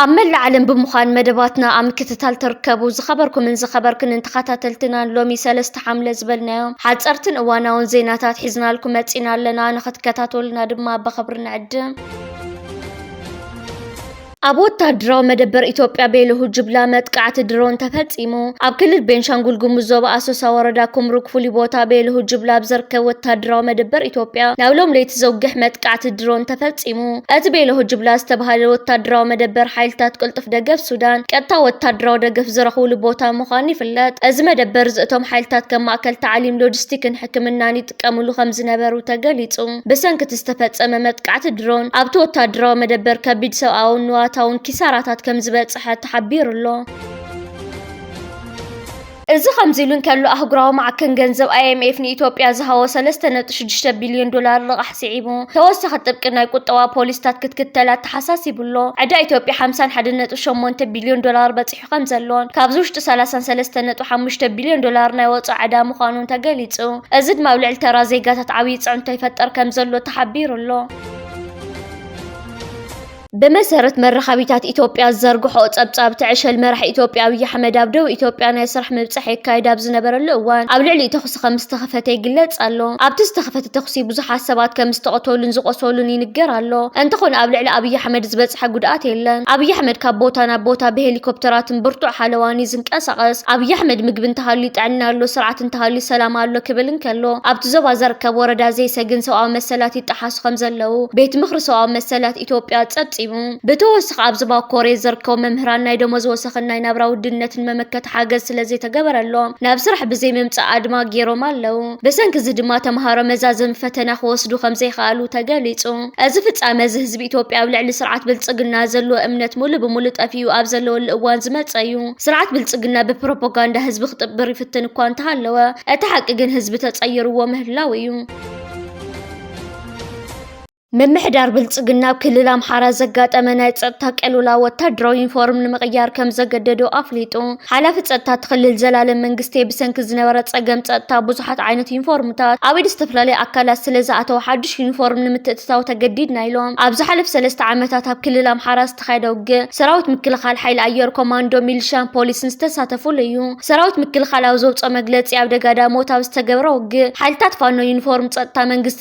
ኣብ መላእ ዓለም ብምዃን መደባትና ኣብ ምክትታል ተርከቡ ዝኸበርኩምን ዝኸበርክንን ተኸታተልትናን ሎሚ ሰለስተ ሓምለ ዝበልናዮ ሓፀርትን እዋናውን ዜናታት ሒዝናልኩም መፂና ኣለና። ንኽትከታተሉና ድማ ብኽብሪ ንዕድም። ኣብ ወታደራዊ መደበር ኢትዮጵያ ቤለሁ ጅብላ መጥቃዕቲ ድሮን ተፈፂሙ። ኣብ ክልል ቤንሻንጉል ጉሙዝ ዞባ ኣሶሳ ወረዳ ኩምሩክ ፍሉይ ቦታ ቤለሁ ጅብላ ኣብ ዘርከብ ወታደራዊ መደበር ኢትዮጵያ ናብ ሎም ለይቲ ዘውግሕ መጥቃዕቲ ድሮን ተፈፂሙ። እቲ ቤለሁ ጅብላ ዝተብሃለ ወታደራዊ መደበር ሓይልታት ቅልጡፍ ደገፍ ሱዳን ቀጥታዊ ወታደራዊ ደገፍ ዝረኽብሉ ቦታ ምዃኑ ይፍለጥ። እዚ መደበር እዚ እቶም ሓይልታት ከም ማእከል ታዕሊም፣ ሎጂስቲክን ሕክምናን ይጥቀምሉ ከምዝነበሩ ተገሊፁ። ብሰንኪ እቲ ዝተፈጸመ መጥቃዕቲ ድሮን፣ ኣብቲ ወተሃደራዊ መደበር ከቢድ ሰብኣውን ንዋታውን ኪሳራታት ከምዝበጽሐ ተሓቢሩ'ሎ። እዚ ከምዚ'ሉ እንከሎ፣ ኣህጉራዊ ማዕከን ገንዘብ፣ ኣይኤምኤፍ፣ ንኢትዮጵያ ዝሃቦ ሰለስተ ነጥቢ ሽዱሽተ ቢልዮን ዶላር ልቓሕ ስዒቡ፣ ተወሳኺ ጥብቂ ናይ ቁጠባ ፖሊሲታት ክትክተል ኣተሓሳሲቡ'ሎ። ዕዳ ኢትዮጵያ ሓምሳን ሓደን ነጥቢ ሸሞንተ ቢልዮን ዶላር በጺሑ'ሎ። ይሰርሕ ከምዘሎን ካብዚ ውሽጢ ሰላሳን ሰለስተን ነጥቢ ሓሙሽተ ቢልዮን ዶላር ናይ ወፃኢ ዕዳ ምዃኑን ተገሊፁ። እዚ ድማ ኣብ ልዕሊ ተራ ዜጋታት ዓብዪ ፅዕንቶ ይፈጥር ከምዘሎ ተሓቢሩ'ሎ። ብመሰረት መራኸቢታት ኢትዮጵያ ዝዘርግሕኦ ፀብፃብ፣ እቲ ዕሸል መራሒ ኢትዮጵያ ኣብይ ኣሕመድ ኣብ ደቡብ ኢትዮጵያ ናይ ስራሕ ምብፃሕ የካይድ ኣብ ዝነበረሉ እዋን ኣብ ልዕሊኡ ተኹሲ ተኹሲ ከም ዝተኸፈተ ይግለጽ ኣሎ። ኣብቲ ዝተኸፈተ ተኹሲ ብዙሓት ሰባት ከም ዝተቐተሉን ዝቖሰሉን ይንገር ኣሎ። እንተኾነ ኣብ ልዕሊ ኣብይ ኣሕመድ ዝበጽሐ ጉድኣት የለን። ኣብይ ኣሕመድ ካብ ቦታ ናብ ቦታ ብሄሊኮፕተራትን ብርቱዕ ሓለዋን እዩ ዝንቀሳቐስ። ኣብይ ኣሕመድ ምግቢ እንተሃልዩ ጥዕና ኣሎ፣ ስርዓት እንተሃልዩ ሰላም ኣሎ ክብል እንከሎ፣ ኣብቲ ዞባ ዘርከብ ወረዳ ዘይሰ ግን ሰብኣዊ መሰላት ይጠሓሱ ከም ዘለዉ ቤት ምኽሪ ሰብኣዊ መሰላት ኢትዮጵያ ጸብጺቡ። ብተወሳኺ ኣብ ዞባ ኮሬ ዝርከቡ መምህራን ናይ ደሞዝ ወሰኽን ናይ ናብራ ውድነትን መመከቲ ሓገዝ ስለዘይተገበረሎም ናብ ስራሕ ብዘይምምፃእ ኣድማ ገይሮም ኣለው። ብሰንኪ እዚ ድማ ተምሃሮ መዛዘሚ ፈተና ክወስዱ ከምዘይኸኣሉ ተገሊፁ። እዚ ፍፃመ እዚ ህዝቢ ኢትዮጵያ ኣብ ልዕሊ ስርዓት ብልፅግና ዘለዎ እምነት ሙሉእ ብሙሉእ ጠፊኡ ኣብ ዘለወሉ እዋን ዝመፀ እዩ። ስርዓት ብልፅግና ብፕሮፖጋንዳ ህዝቢ ክጥብር ይፍትን እኳ እንተሃለወ እቲ ሓቂ ግን ህዝቢ ተፀይርዎ ምህላው እዩ። ምምሕዳር ብልፅግና ኣብ ክልል ኣምሓራ ዘጋጠመ ናይ ፀጥታ ቅልውላው ወታደራዊ ዩኒፎርም ንምቕያር ከም ዘገደዶ ኣፍሊጡ። ሓላፊ ፀጥታ እቲ ክልል ዘላለም መንግስቴ ብሰንኪ ዝነበረ ፀገም ፀጥታ ብዙሓት ዓይነት ዩኒፎርምታት ኣብ ኢድ ዝተፈላለዩ ኣካላት ስለ ዝኣተወ ሓዱሽ ዩኒፎርም ንምትእትታው ተገዲድና ኢሎም። ኣብ ዝሓለፈ ሰለስተ ዓመታት ኣብ ክልል ኣምሓራ ዝተኻየደ ውግእ ሰራዊት ምክልኻል፣ ሓይሊ ኣየር፣ ኮማንዶ፣ ሚሊሻን ፖሊስን ዝተሳተፉሉ እዩ። ሰራዊት ምክልኻል ኣብ ዘውፅኦ መግለፂ ኣብ ደጋዳሞት ኣብ ዝተገብረ ውግእ ሓይልታት ፋኖ ዩኒፎርም ፀጥታ መንግስቲ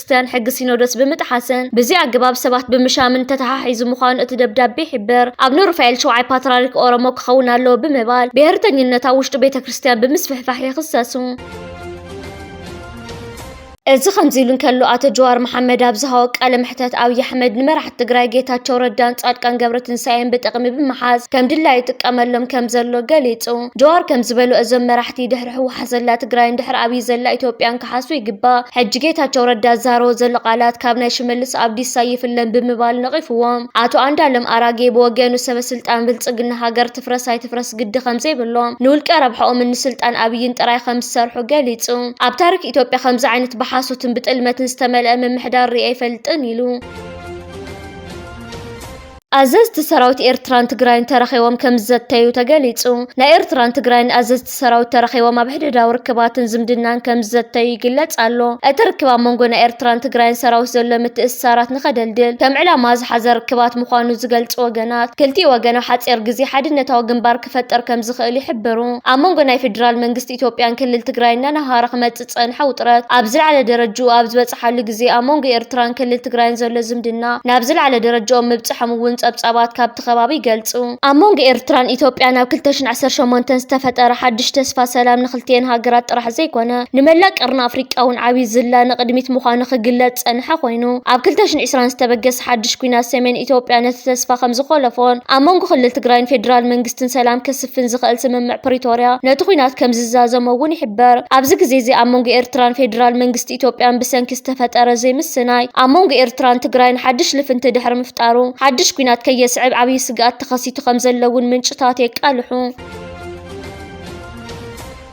ቤተክርስትያን ሕጊ ሲኖዶስ ብምጥሓስን ብዘይኣገባብ ሰባት ብምሻምን ተተሓሒዙ ምዃኑ እቲ ደብዳቤ ይሕብር። ኣቡነ ሩፋኤል ሸውዓይ ፓትርያርክ ኦሮሞ ክኸውን ኣለዎ ብምባል ብሄርተኝነት ኣብ ውሽጢ ቤተክርስትያን ብምስፍሕፋሕ ይኽሰሱ። እዚ ከምዚ ኢሉ እንከሎ ኣቶ ጀዋር መሓመድ ኣብ ዝሃቦ ቃለ መሕተት ኣብዪ ኣሕመድ ንመራሕቲ ትግራይ ጌታቸው ረዳን ፃድቃን ገብረትንሳኤን ብጥቕሚ ብምሓዝ ከም ድላዩ ይጥቀመሎም ከምዘሎ ገሊፁ። ጀዋር ከምዝበሎ እዞም መራሕቲ ድሕሪ ህወሓት ዘላ ትግራይን ድሕሪ ኣብይ ዘላ ኢትዮጵያን ክሓሱ ይግባእ። ሕጂ ጌታቸው ረዳ ዝዛረቦ ዘሎ ቃላት ካብ ናይ ሽመልስ ኣብዲሳ ኣይፍለን ብምባል ነቒፍዎም። ኣቶ ኣንዳለም ኣራጌ ብወገኑ ሰበስልጣን ብልፅግና ሃገር ትፍረስ ኣይትፍረስ ግዲ ከምዘይብሎም ንውልቀ ረብሐኦምን ንስልጣን ኣብይን ጥራይ ከምዝሰርሑ ገሊፁ። ኣብ ታሪክ ኢትዮጵያ ከምዚ ዓይነት ብሓሶትን ብጥልመትን ዝተመልአ ምምሕዳር ሪኤ ኣይፈልጥን ኢሉ። ኣዘዝቲ ሰራዊት ኤርትራን ትግራይን ተራኺቦም ከምዝዘተዩ ተገሊጹ። ናይ ኤርትራን ትግራይን ኣዘዝቲ ሰራዊት ተራኺቦም ኣብ ሕድሕዳዊ ርክባትን ዝምድናን ከምዝዘተዩ ይግለጽ ኣሎ። እቲ ርክብ ኣብ መንጎ ናይ ኤርትራን ትግራይን ሰራዊት ዘሎ ምትእስሳራት ንኸደልድል ከም ዕላማ ዝሓዘ ርክባት ምዃኑ ዝገልጹ ወገናት፣ ክልቲኡ ወገን ኣብ ሓጺር ግዜ ሓድነታዊ ግንባር ክፈጥር ከምዝኽእል ይሕብሩ። ኣብ መንጎ ናይ ፌደራል መንግስቲ ኢትዮጵያን ክልል ትግራይን እናነሃረ ክመጽእ ዝጸንሐ ውጥረት ኣብ ዝለዓለ ደረጅኡ ኣብ ዝበጽሓሉ ግዜ ኣብ መንጎ ኤርትራን ክልል ትግራይን ዘሎ ዝምድና ናብ ዝለዓለ ደረጃኦም ምብጽሖም እውን ጸብጻባት ካብቲ ከባቢ ይገልጹ። ኣብ መንጎ ኤርትራን ኢትዮጵያን ኣብ ክልተ ሽሕን ዓሰርተ ሸሞንተን ዝተፈጠረ ሓድሽ ተስፋ ሰላም ንክልቲኤን ሃገራት ጥራሕ ዘይኮነ ንመላእ ቀርኒ ኣፍሪቃ እውን ዓብይ ዝላ ንቕድሚት ምዃኑ ክግለጽ ዝጸንሐ ኮይኑ ኣብ ክልተ ሽሕን ዕስራን ዝተበገሰ ሓድሽ ኲናት ሰሜን ኢትዮጵያ ነቲ ተስፋ ከምዝኾለፎን ኣብ መንጎ ክልል ትግራይን ፌደራል መንግስትን ሰላም ከስፍን ዝኸእል ስምምዕ ፕሪቶርያ ነቲ ኹናት ከምዝዛዘሞ እውን ይሕበር። ኣብዚ ግዜ እዚ ኣብ መንጎ ኤርትራን ፌድራል መንግስቲ ኢትዮጵያን ብሰንኪ ዝተፈጠረ ዘይምስናይ ኣብ መንጎ ኤርትራን ትግራይን ሓድሽ ልፍንቲ ድሕሪ ምፍጣሩ ሓድሽ ኲናት ከየስዕብ ዓብዪ ስግኣት ተኸሲቱ ከምዘሎ እውን ምንጭታት የቃልሑ።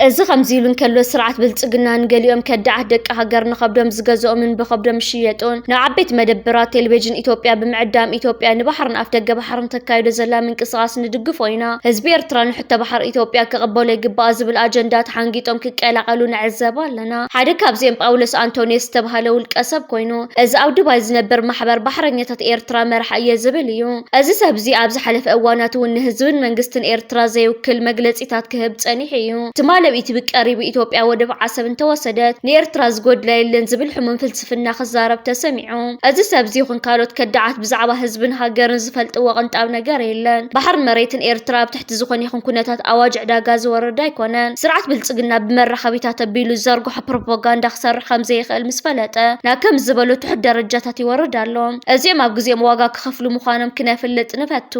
እዚ ከምዚ ኢሉ እንከሎ ስርዓት ብልፅግና ንገሊኦም ከዳዓት ደቂ ሃገር ንኸብዶም ዝገዝኦምን ብኸብዶም ዝሽየጡን ናብ ዓበይቲ መደበራት ቴሌቬዥን ኢትዮጵያ ብምዕዳም ኢትዮጵያ ንባሕርን ኣፍደገ ባሕርን ተካይዶ ዘላ ምንቅስቓስ ንድግፎ ኢና፣ ህዝቢ ኤርትራ ንሕቶ ባሕሪ ኢትዮጵያ ክቕበሎ ይግባኣ ዝብል ኣጀንዳ ተሓንጊጦም ክቀላቐሉ ንዕዘብ ኣለና። ሓደ ካብዚኦም ጳውሎስ ኣንቶንዮስ ዝተብሃለ ውልቀሰብ ኮይኑ እዚ ኣብ ዱባይ ዝነብር ማሕበር ባሕረኛታት ኤርትራ መራሒ እየ ዝብል እዩ። እዚ ሰብዚ ኣብ ዝሓለፈ እዋናት እውን ንህዝብን መንግስትን ኤርትራ ዘይውክል መግለጺ ወጻኢታት ክህብ ጸኒሑ እዩ። ትማል ኣብ ኢቲቪ ቀሪቡ ኢትዮጵያ ወደብ ዓሰብ እንተወሰደት ንኤርትራ ዝጎድላ የለን ዝብል ሕሙም ፍልስፍና ክዛረብ ተሰሚዑ። እዚ ሰብዚ ይኹን ካልኦት ከዳዓት ብዛዕባ ህዝብን ሃገርን ዝፈልጥዎ ቅንጣብ ነገር የለን። ባሕርን መሬትን ኤርትራ ኣብ ትሕቲ ዝኾነ ይኹን ኩነታት ኣዋጅ ዕዳጋ ዝወርድ ኣይኮነን። ስርዓት ብልጽግና ብመራኸቢታት ኣቢሉ ዝዘርግሖ ፕሮፖጋንዳ ክሰርሕ ከምዘይኽእል ምስ ፈለጠ ናብ ከምዚ ዝበሉ ትሑት ደረጃታት ይወርድ ኣሎ። እዚኦም ኣብ ግዜኦም ዋጋ ክኸፍሉ ምዃኖም ክነፍልጥ ንፈቱ።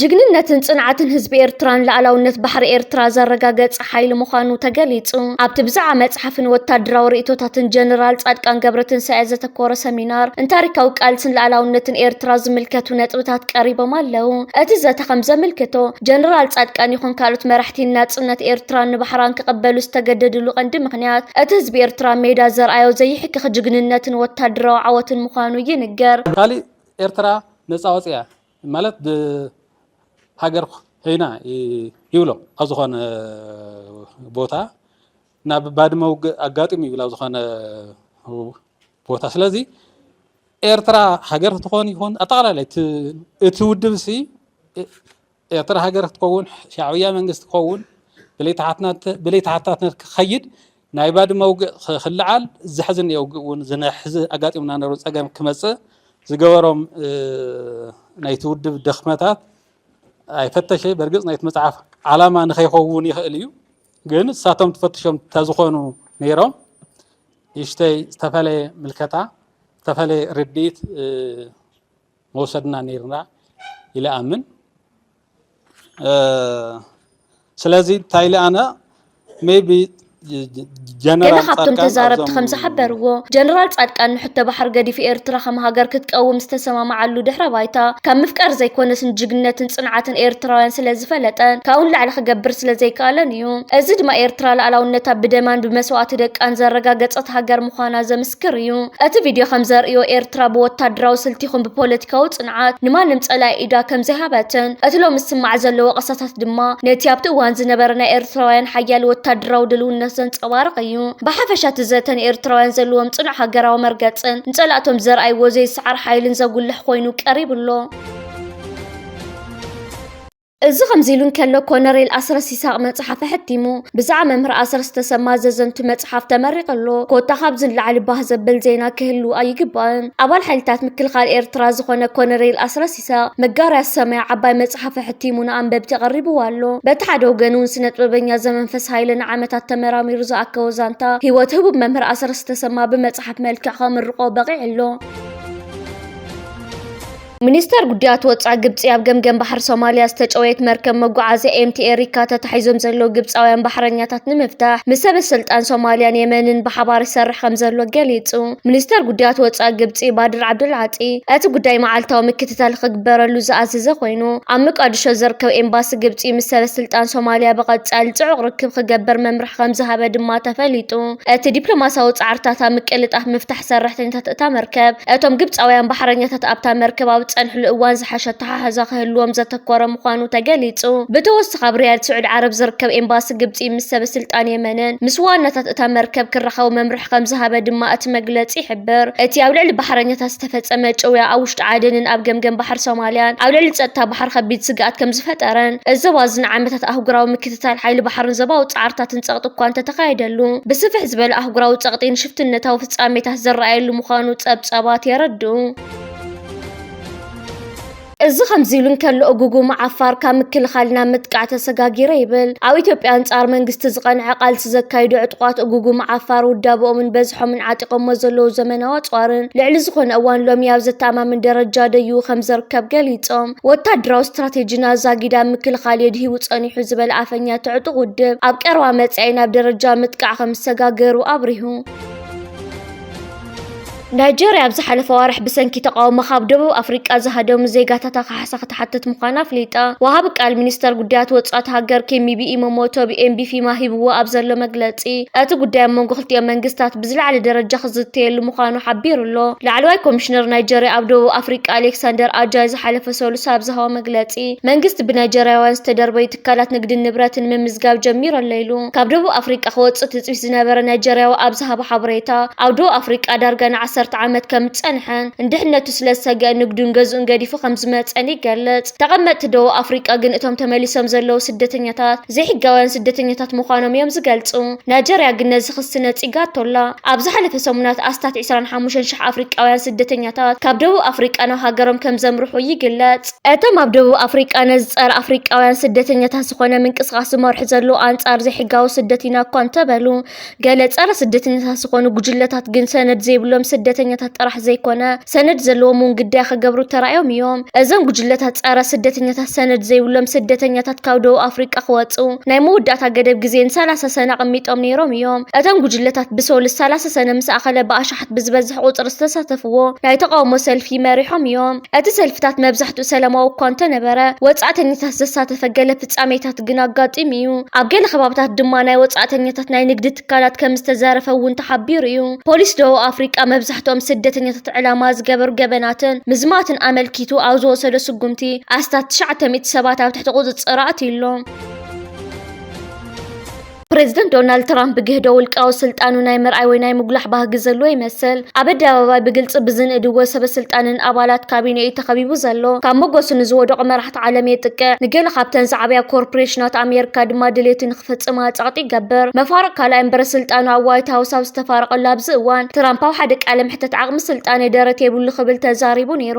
ጅግንነትን ፅንዓትን ህዝቢ ኤርትራን ልኣላውነት ባሕሪ ኤርትራ ዘረጋገፀ ሓይሊ ምዃኑ ተገሊፁ። ኣብቲ ብዛዕባ መፅሓፍን ወታደራዊ ርእይቶታትን ጀነራል ፃድቃን ገብረትንሳኤ ዘተኮረ ሰሚናር ን ታሪካዊ ቃልስን ልኣላውነትን ኤርትራ ዝምልከቱ ነጥብታት ቀሪቦም ኣለው። እቲ ዘተ ከምዘምልክቶ ጀነራል ፃድቃን ይኹን ካልኦት መራሕቲ ንናፅነት ኤርትራን ንባሕራን ክቕበሉ ዝተገደድሉ ቀንዲ ምኽንያት እቲ ህዝቢ ኤርትራ ኣብ ሜዳ ዘርኣዮ ዘይሕከኽ ጅግንነትን ወታደራዊ ዓወትን ምዃኑ ይንገር። ካሊእ ኤርትራ ነፃ ወፂኣ ማለት ብ ሃገር ዄይና ይብሎ ኣብ ዝኾነ ቦታ ናብ ባድመ ውግእ ኣጋጢሙ ይብል ኣብ ዝኾነ ቦታ ስለዚ ኤርትራ ሃገር ክትኾን ይኹን ኣጠቓላላይ እቲ ውድብ ሲ ኤርትራ ሃገር ክትከውን ሻዕብያ መንግስቲ ክኸውን ብለይ ተሓታትነት ክኸይድ ናይ ባድመ ውግእ ክልዓል ዘሕዝን እዮ ውግእ እውን ዝነሕዚ ኣጋጢሙና ነሩ ፀገም ክመፅእ ዝገበሮም ናይቲ ውድብ ደክመታት ኣይፈተሸይ በርግፅ ናይቲ መፅሓፍ ዓላማ ንኸይኸውን ይኽእል እዩ ግን ንሳቶም ትፈትሾም ተዝኾኑ ነይሮም ይሽተይ ዝተፈለየ ምልከታ ዝተፈለየ ርድኢት መውሰድና ነይርና ኢለ ኣምን ስለዚ እንታይ ኢለ ኣነ ሜቢ ገለ ካብቶም ተዛረብቲ ከም ዝሓበርዎ ጀነራል ጻድቃን ንሕቶ ባሕሪ ገዲፉ ኤርትራ ከም ሃገር ክትቀውም ዝተሰማማዓሉ ድሕረ ባይታ ካብ ምፍቃር ዘይኮነስ ንጅግነትን ጽንዓትን ኤርትራውያን ስለ ዝፈለጠን ካብኡ ንላዕሊ ክገብር ስለ ዘይከኣለን እዩ። እዚ ድማ ኤርትራ ልኣላውነታ ብደማን ብመስዋእቲ ደቃን ዘረጋገጸት ሃገር ምዃና ዘምስ ምስክር እዩ። እቲ ቪድዮ ከም ዘርእዮ፣ ኤርትራ ብወታደራዊ ስልቲ ይኹን ብፖለቲካዊ ጽንዓት ንማንም ጸላኢ ኢዳ ከም ዘይሃበትን፣ እቲ ሎሚ ዝስማዕ ዘሎ ወቐሳታት ድማ ነቲ ኣብቲ እዋን ዝነበረ ናይ ኤርትራውያን ሓያል ወታደራዊ ድልውነት ዘንጸባርቕ እዩ። ብሓፈሻ እቲ ዘተ ንኤርትራውያን ዘለዎም ጽኑዕ ሃገራዊ መርገጽን ንጸላእቶም ዘርኣይዎ ዘይስዓር ሓይልን ዘጉልሕ ኮይኑ ቀሪቡ ኣሎ። እዚ ከምዚሉ እንከሎ ኮነሬል ኣስረስ ይሳቕ መጽሓፍ ኣሐቲሙ ብዛዕባ መምህር ኣስረስ ተሰማ ዘዘንቱ መጽሓፍ ተመሪቑ ኣሎ። ኮታ ካብዚ ንላዕሊ ባህ ዘብል ዜና ክህሉ ኣይግባእን። ኣባል ሓይልታት ምክልኻል ኤርትራ ዝኾነ ኮነሬል ኣስረስ ይሳቕ መጋርያ ሰማይ ዓባይ መጽሓፍ ኣሐቲሙ ንኣንበብቲ ኣቐሪብዋ ኣሎ። በቲ ሓደ ወገን'ውን ስነጥበበኛ ዘመንፈስ ሃይለ ንዓመታት ተመራሚሩ ዝኣከቦ ዛንታ ህይወት ህቡብ መምህር ኣስረስ ተሰማ ብመጽሓፍ መልክዕ ከምርቖ በቒዑ ኣሎ። ሚኒስተር ጉዳያት ወጻኢ ግብጺ ኣብ ገምገም ባሕሪ ሶማልያ ዝተጨወየት መርከብ መጓዓዝያ ኤምቲ ኤሪካ ተታሒዞም ዘለዉ ግብጻውያን ባሕረኛታት ንምፍታሕ ምስ ሰበስልጣን ሶማልያን የመንን ብሓባር ይሰርሕ ከም ዘሎ ገሊጹ። ሚኒስተር ጉዳያት ወጻኢ ግብጺ ባድር ዓብዱልዓጢ እቲ ጉዳይ መዓልታዊ ምክትታል ክግበረሉ ዝኣዘዘ ኮይኑ፣ ኣብ መቃድሾ ዝርከብ ኤምባሲ ግብጺ ምስ ሰበስልጣን ሶማልያ ብቐጻሊ ጽዑቕ ርክብ ክገብር መምርሒ ከም ዝሃበ ድማ ተፈሊጡ። እቲ ዲፕሎማስያዊ ጻዕርታት ኣብ ምቅልጣፍ ምፍታሕ ሰራሕተኛታት እታ መርከብ፣ እቶም ግብጻውያን ባሕረኛታት ኣብታ መርከብ ኣብ ዝጸንሕሉ እዋን ዝሓሸ ኣተሓሕዛ ክህልዎም ዘተኮረ ምዃኑ ተገሊጹ። ብተወሳኺ ኣብ ሪያድ ስዑዲ ዓረብ ዝርከብ ኤምባሲ ግብጺ ምስ ሰበስልጣን የመንን ምስ ዋናታት እታ መርከብ ክራኸቡ መምርሒ ከምዝሃበ ድማ እቲ መግለጺ ይሕብር። እቲ ኣብ ልዕሊ ባሕረኛታት ዝተፈጸመ ጭውያ ኣብ ውሽጢ ዓደንን ኣብ ገምገም ባሕሪ ሶማልያን ኣብ ልዕሊ ጸጥታ ባሕሪ ከቢድ ስግኣት ከምዝፈጠረን እዚ ዞባ እዚ ንዓመታት ኣህጉራዊ ምትእትታን ሓይሊ ባሕርን ዞባዊ ጻዕርታትን ጸቕጢ እኳ እንተተኻየደሉ፣ ብስፍሕ ዝበለ ኣህጉራዊ ጸቕጢ ንሽፍትነታዊ ፍጻሜታት ዝረኣየሉ ምዃኑ ጸብጻባት የረድኡ። እዚ ከምዚ ኢሉ እንከሎ እጉጉማ ዓፋር ካብ ምክልኻል ናብ ምጥቃዕ ተሰጋጊረ ይብል። ኣብ ኢትዮጵያ ኣንጻር መንግስቲ ዝቐንዐ ቃልሲ ዘካይዱ ዕጡቓት እጉጉማ ዓፋር ውዳበኦምን በዝሖምን ዓጢቖሞ ዘለዉ ዘመናዊ ኣጽዋርን ልዕሊ ዝኾነ እዋን ሎሚ ኣብ ዘተኣማምን ደረጃ ደይቡ ከምዘርከብ ገሊጾም። ወታደራዊ ስትራቴጂና ዛጊዳ ምክልኻል የድሂቡ ጸኒሑ ዝበለ ኣፈኛ እቲ ዕጡቕ ውድብ፣ ኣብ ቀረባ መጻኢ ናብ ደረጃ ምጥቃዕ ከም ዝሰጋገሩ ኣብሪሁ። ናይጀርያ ኣብ ዝሓለፈ ኣዋርሕ ብሰንኪ ተቓውሞ ካብ ደቡብ ኣፍሪቃ ዝሃደሙ ዜጋታታ ካሕሳ ክትሓትት ምዃና ኣፍሊጣ። ወሃቢ ቃል ሚኒስተር ጉዳያት ወጻኢ እታ ሃገር ኬሚቢ ኢሞሞቶቢ ኤምቢፊማ ሂብዎ ኣብ ዘሎ መግለጺ፣ እቲ ጉዳይ ኣብ መንጎ ክልቲኦም መንግስታት ብዝለዓለ ደረጃ ክዝተየሉ ምዃኑ ሓቢሩ'ሎ። ላዕለዋይ ኮሚሽነር ናይጀርያ ኣብ ደቡብ ኣፍሪቃ ኣሌክሳንደር ኣጃይ ዝሓለፈ ሰሉስ ኣብ ዝሃቦ መግለጺ፣ መንግስቲ ብናይጀርያውያን ዝተደርበዩ ትካላት ንግድን ንብረትን ምምዝጋብ ጀሚሩ'ሎ ኢሉ። ካብ ደቡብ ኣፍሪቃ ክወጽእ ትጽቢት ዝነበረ ናይጀርያዊ ኣብ ዝሃቦ ሓበሬታ፣ ኣብ ደቡብ ኣፍሪቃ ዳርጋ ንዓሰርተ ዓመት ከምዝጸንሐን ንድሕነቱ ስለዝሰግኣን ንግዱን ገዝኡን ገዲፉ ከምዝመጸን ይገልጽ። ተቐመጥቲ ደቡብ ኣፍሪቃ ግን እቶም ተመሊሶም ዘለዉ ስደተኛታት፣ ዘይሕጋውያን ስደተኛታት ምዃኖም እዮም ዝገልጹ። ናይጀርያ ግን ነዚ ክሲ ነጺጋቶ'ላ። ኣብ ዝሓለፈ ሰሙናት ኣስታት ዕስራን ሓሙሽተን ሽሕ ኣፍሪቃውያን ስደተኛታት ካብ ደቡብ ኣፍሪቃ ናብ ሃገሮም ከም ዘምርሑ ይግለጽ። እቶም ኣብ ደቡብ ኣፍሪቃ ነዚ ጸረ ኣፍሪቃውያን ስደተኛታት ዝኾነ ምንቅስቓስ ዝመርሑ ዘለዉ ኣንጻር ዘይሕጋዊ ስደት ኢና እኳ እንተበሉ፣ ገለ ፀረ ስደተኛታት ዝኾኑ ጉጅለታት ግን ሰነድ ዘይብሎም ስደተኛታት ጥራሕ ዘይኮነ ሰነድ ዘለዎም እውን ግዳይ ክገብሩ ተራእዮም እዮም። እዞም ጉጅለታት ፀረ ስደተኛታት ሰነድ ዘይብሎም ስደተኛታት ካብ ደቡብ ኣፍሪቃ ክወፅኡ ናይ መወዳእታ ገደብ ግዜ ንሰላሳ ሰነ ኣቐሚጦም ነይሮም እዮም። እቶም ጉጅለታት ብሰሉስ ሰላሳ ሰነ ምስ ኣኸለ ብኣሽሓት ብዝበዝሕ ቁፅሪ ዝተሳተፍዎ ናይ ተቓውሞ ሰልፊ መሪሖም እዮም። እቲ ሰልፍታት መብዛሕትኡ ሰላማዊ እኳ እንተነበረ ወፃእተኛታት ዘሳተፈ ገለ ፍጻሜታት ግን ኣጋጢሙ እዩ። ኣብ ገለ ከባብታት ድማ ናይ ወጻእተኛታት ናይ ንግዲ ትካላት ከም ዝተዘረፈ እውን ተሓቢሩ እዩ። ፖሊስ ደቡብ ኣፍሪቃ መብዛሕትኦም ስደተኛታት ዕላማ ዝገበሩ ገበናትን ምዝማትን ኣመልኪቱ ኣብ ዝወሰዶ ስጉምቲ ኣስታት ትሽዓተ ሚእቲ ሰባት ኣብ ትሕቲ ቁጽጽር ኣእትዩ ኣሎ። ፕረዚደንት ዶናልድ ትራምፕ ብግህዶ ውልቃዊ ስልጣኑ ናይ ምርኣይ ወይ ናይ ምጉላሕ ባህጊ ዘለዎ ይመስል። ኣብ ኣደባባይ ብግልጺ ብዝንእድዎ ሰበስልጣንን ኣባላት ካቢነኡ'ዩ ተኸቢቡ ዘሎ። ካብ መጎሱ ንዝወደቑ መራሕቲ ዓለም የጥቅዕ፣ ንገለ ካብተን ዝዓበያ ኮርፕሬሽናት ኣሜሪካ ድማ ድሌቱ ንኽፍጽማ ጸቕጢ ይገብር። መፋርቕ ካልኣይ እምበረ ስልጣኑ ኣብ ዋይት ሃውስ ኣብ ዝተፋረቐሉ ኣብዚ እዋን፣ ትራምፕ ኣብ ሓደ ቃለ መሕተት ዓቕሚ ስልጣነይ ደረት የብሉ ክብል ተዛሪቡ ነይሩ።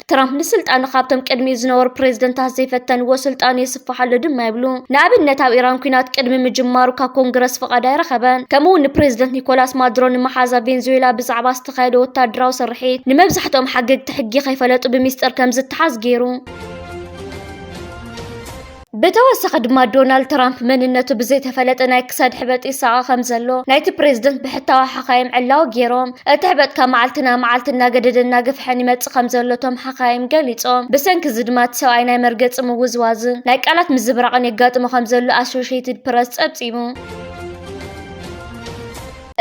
ትራምፕ ንስልጣኑ ካብቶም ቅድሚኡ ዝነበሩ ፕሬዝደንታት ዘይፈተንዎ ስልጣኑ የስፍሕ ኣሎ ድማ ይብሉ። ንኣብነት ኣብ ኢራን ኩናት ቅድሚ ምጅማሩ ካብ ኮንግረስ ፍቓድ ኣይረኸበን። ከምኡ እውን ንፕሬዝደንት ኒኮላስ ማዱሮ ንመሓዛ ቬንዙዌላ ብዛዕባ ዝተኻየደ ወታደራዊ ስርሒት ንመብዛሕትኦም ሓገግቲ ሕጊ ከይፈለጡ ብሚስጥር ከምዝተሓዝ ገይሩ። ብተወሳኺ ድማ ዶናልድ ትራምፕ መንነቱ ብዘይተፈለጠ ናይ ክሳድ ሕበጥ ይሳቐ ከም ዘሎ ናይቲ ፕሬዝደንት ብሕታዊ ሓኻይም ዕላዊ ገይሮም። እቲ ሕበጥ ካብ መዓልቲ ናብ መዓልቲ እናገደደ እናገፍሐን ይመጽእ ከም ዘሎ እቶም ሓኻይም ገሊጾም። ብሰንኪ እዚ ድማ እቲ ሰብኣይ ናይ መርገጺ ምውዝዋዝን ናይ ቃላት ምዝብራቕን የጋጥሞ ከም ዘሎ ኣሶሸይትድ ፕረስ ጸብጺቡ።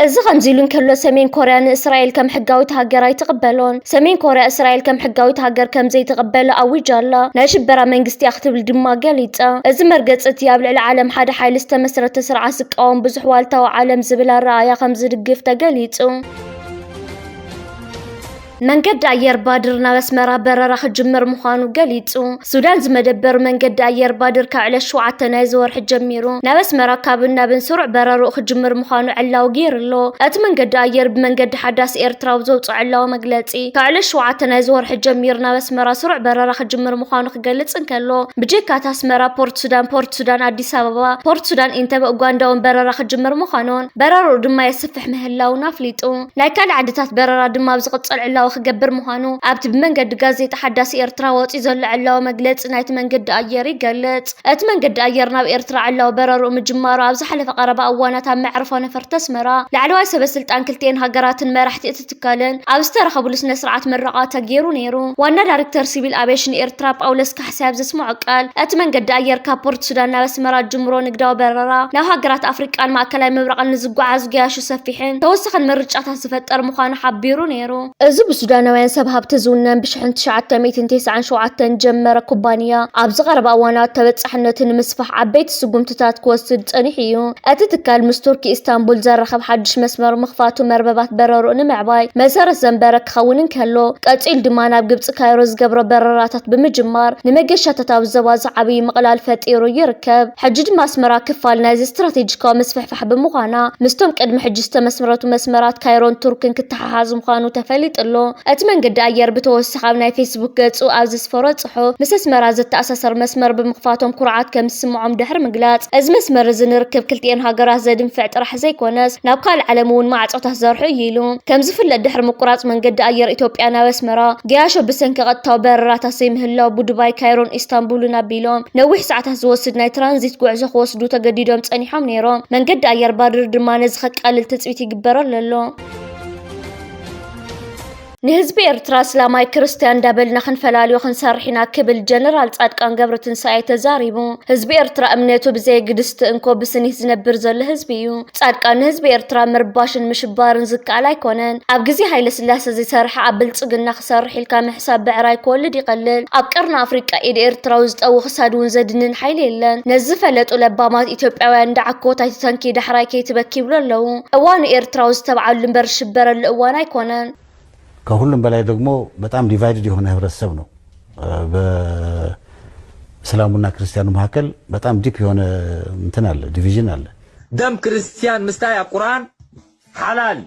እዚ ከምዚሉ እንከሎ፣ ሰሜን ኮርያ ንእስራኤል ከም ሕጋዊት ሃገር ኣይትቕበሎን። ሰሜን ኮርያ እስራኤል ከም ሕጋዊት ሃገር ከም ዘይትቕበላ ኣዊጃ ኣላ፣ ናይ ሽበራ መንግስቲ እያ ክትብል ድማ ገሊጻ። እዚ መርገጺ እቲ ኣብ ልዕሊ ዓለም ሓደ ሓይሊ ዝተመስረተ ስርዓት ዝቃወም ብዙሕ ዋልታዊ ዓለም ዝብል ኣረኣእያ ከም ዝድግፍ ተገሊጹ። መንገዲ ኣየር ባድር ናብ ኣስመራ በረራ ክጅምር ምዃኑ ገሊጹ። ሱዳን ዝመደበሩ መንገዲ ኣየር ባድር ካብ ዕለት ሸውዓተ ናይዚ ወርሒ ጀሚሩ ናብ ኣስመራ ካብን ናብን ስሩዕ በረርኡ ክጅምር ምዃኑ ዕላዊ ገይሩ'ሎ። እቲ መንገዲ ኣየር ብመንገዲ ሓዳስ ኤርትራ ኣብ ዘውጽኦ ዕላዊ መግለጺ፣ ካብ ዕለት ሸውዓተ ናይዚ ወርሒ ጀሚሩ ናብ ኣስመራ ስሩዕ በረራ ክጅምር ምዃኑ ክገልጽ እንከሎ፣ ብጀካ እቲ ኣስመራ፣ ፖርት ሱዳን፣ ፖርት ሱዳን ኣዲስ ኣበባ፣ ፖርት ሱዳን ኢንተበ፣ ኡጋንዳ'ውን በረራ ክጅምር ምዃኑን በረርኡ ድማ የስፍሕ ምህላዉን ኣፍሊጡ። ናይ ካልእ ዓድታት በረራ ድማ ኣብ ዝቕጽል ዕላዊ ክገብር ምዃኑ ኣብቲ ብመንገዲ ጋዜጣ ሓዳስ ኤርትራ ወጺኡ ዘሎ ዕላዊ መግለጺ ናይቲ መንገዲ ኣየር ይገልጽ። እቲ መንገዲ ኣየር ናብ ኤርትራ ዕላዊ በረርኡ ምጅማሩ ኣብ ዝሓለፈ ቀረባ እዋናት ኣብ መዕርፎ ነፈርቲ ኣስመራ ላዕለዋይ ሰበስልጣን ክልቲኤን ሃገራትን መራሕቲ እቲ ትካልን ኣብ ዝተረኸብሉ ስነ-ስርዓት ምረቓ ተጌሩ ነይሩ። ዋና ዳሪክተር ሲቪል ኣቬሽን ኤርትራ ጳውለስ ሰብ ዘስመዖ ቃል፣ እቲ መንገዲ ኣየር ካብ ፖርት ሱዳን ናብ ኣስመራ ዝጅምሮ ንግዳዊ በረራ፣ ናብ ሃገራት ኣፍሪቃን ማእከላይ ምብራቕን ንዝጓዓዙ ገያሹ ሰፊሕን ተወሳኺን ምርጫታት ዝፈጠር ምዃኑ ሓቢሩ ነይሩ። እዚ ብሱዳናውያን ሰብ ሃብቲ ዝውነን ብሽሕን ትሽዓተ ሚእትን ቴስዓን ሸውዓተን ዝጀመረ ኩባንያ፣ ኣብዚ ቀረባ እዋናት ተበጻሕነቱ ንምስፋሕ ዓበይቲ፣ ስጉምትታት ክወስድ ጸኒሑ እዩ። እቲ ትካል ምስ ቱርኪ ኢስታንቡል ዘራኽብ ሓድሽ መስመር ምኽፋቱ መርበባት በረርኡ ንምዕባይ መሰረት ዘንበረ ክኸውን እንከሎ፣ ቀጺሉ ድማ ናብ ግብጺ ካይሮ ዝገብሮ በረራታት ብምጅማር ንመገሻታት ኣብ ዞባ ዝዓብይ ምቕላል ፈጢሩ ይርከብ። ሕጂ ድማ ኣስመራ ክፋል ናይዚ ስትራቴጂካዊ ምስፍሕፋሕ ብምዃና ምስቶም ቅድሚ ሕጂ ዝተመስረቱ መስመራት ካይሮን ቱርክን ክተሓሓዝ ምዃኑ ተፈሊጡ ኣሎ። እቲ መንገዲ ኣየር ብተወሳኺ ኣብ ናይ ፌስቡክ ገጹ ኣብ ዘስፈሮ ዝሰርሑ ምስ ኣስመራ ዘተኣሳሰር መስመር ብምኽፋቶም ኩርዓት ከምዝስምዖም ድሕሪ ምግላጽ፣ እዚ መስመር እዚ ንርክብ ክልቲኤን ሃገራት ዘድንፍዕ ጥራሕ ዘይኮነስ ናብ ካልእ ዓለም እውን ማዕጾታት ዘርሑ እዩ ኢሉ። ከምዝፍለጥ ድሕሪ ምቁራጽ መንገዲ ኣየር ኢትዮጵያ ናብ ኣስመራ፣ ገያሾ ብሰንኪ ቀጥታዊ በረራታት ዘይምህላው ብዱባይ፣ ካይሮን ኢስታንቡልን ኣቢሎም ነዊሕ ሰዓታት ዝወስድ ናይ ትራንዚት ጉዕዞ ክወስዱ ተገዲዶም ጸኒሖም ነይሮም። መንገዲ ኣየር ባድር ድማ ነዚ ከቃልል ትጽቢት ይግበረሉ ኣሎ። ንህዝቢ ኤርትራ ኣስላማይ ክርስትያን እንዳበልና ክንፈላልዮ ክንሰርሕ ኢና ክብል ጀነራል ጻድቃን ገብረትንሳኤ ተዛሪቡ። ህዝቢ ኤርትራ እምነቱ ብዘየግድስቲ እንኮ ብስኒት ዝነብር ዘሎ ህዝቢ እዩ። ጻድቃን ንህዝቢ ኤርትራ ምርባሽን ምሽባርን ዝከኣል ኣይኮነን። ኣብ ግዜ ሃይለስላሰ ዘይሰርሐ ኣብ ብልጽግና ክሰርሕ ኢልካ ምሕሳብ ብዕራይ ክወልድ ይቀልል። ኣብ ቀርኒ ኣፍሪቃ ኢድ ኤርትራዊ ዝጠዊ ክሳድ ውን ዘድንን ሓይሊ የለን። ነዚ ዝፈለጡ ለባማት ኢትዮጵያውያን እንዳ ዓኮት ኣይትተንኪ ዳሕራይ ከይትበኪ ይብሉ ኣለዉ። እዋኑ ኤርትራዊ ዝተብዓሉ እምበር ዝሽበረሉ እዋን ኣይኮነን። ከሁሉም በላይ ደግሞ በጣም ዲቫይድድ የሆነ ህብረተሰብ ነው በእስላሙና ክርስቲያኑ መካከል በጣም ዲፕ የሆነ እንትን አለ ዲቪዥን አለ። ደም ክርስትያን ምስታይ ኣብ ቁርኣን ሓላል እዩ።